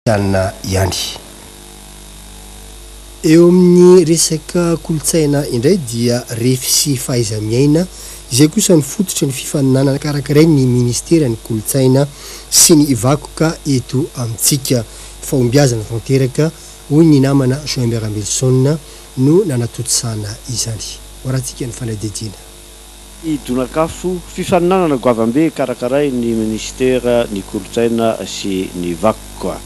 kristianina ihany. Eo amin'ny resaka kolontsaina indray dia refy sy fahaiza-miaina izay kosa no fototry ny fifaninanana karakarain'ny ministeran'ny kolontsaina sy ny vakoka eto amintsika. Fahombiazana tanteraka, hoy ny namana Joimbert Ambelison no nanatontosana izany. Ho arahantsika ny fanadihadiana. I Donakafo, fifaninanana goavambe karakarain'ny Minisitera ny Kolontsaina sy ny Vakoka.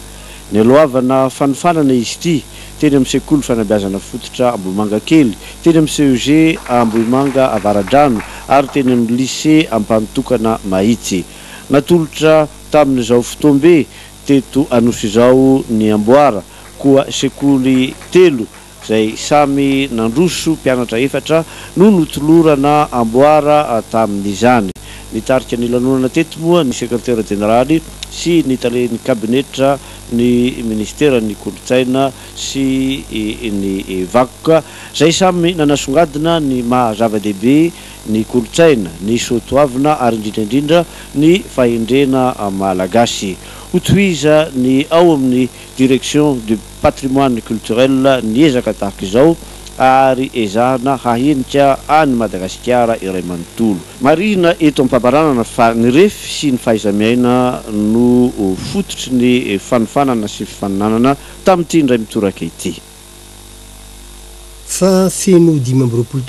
Nialohavana fanofanana izy ity, teny amin'ny Sekoly Fanabeazana Fototra Ambohimangakely, teny amin'ny CEG Ambohimanga Avaradrano ary teny amin'ny Lycée Ampanotokana Mahitsy. Natolotra tamin'izao fotoam-be teto Anosy izao ny amboara, koa sekoly telo izay samy nandroso mpianatra efatra no notolorana amboara tamin'izany. Nitarika ny lanonana teto moa ny sekretera jeneraly sy ny talen'ny kabinetra ny minisiteran'ny kolontsaina sy ny vakoka, izay samy nanasongadina ny maha zava-dehibe ny kolontsaina, ny soa toavina ary indrindra indrindra ny fahendrena malagasy. Hotohizan'ny ao amin'ny Direction du. patrimoine culturel ny ezaka tahaka izao ary ezahana hahenika an'i Madagasikara iray manontolo. Marihina eto am-pamaranana fa ny refy sy ny fahaiza-miaina no fototry ny fanofanana sy fifaninanana tamin'ity indray mitoraka ity. Fa feno dimy amby roapolo taona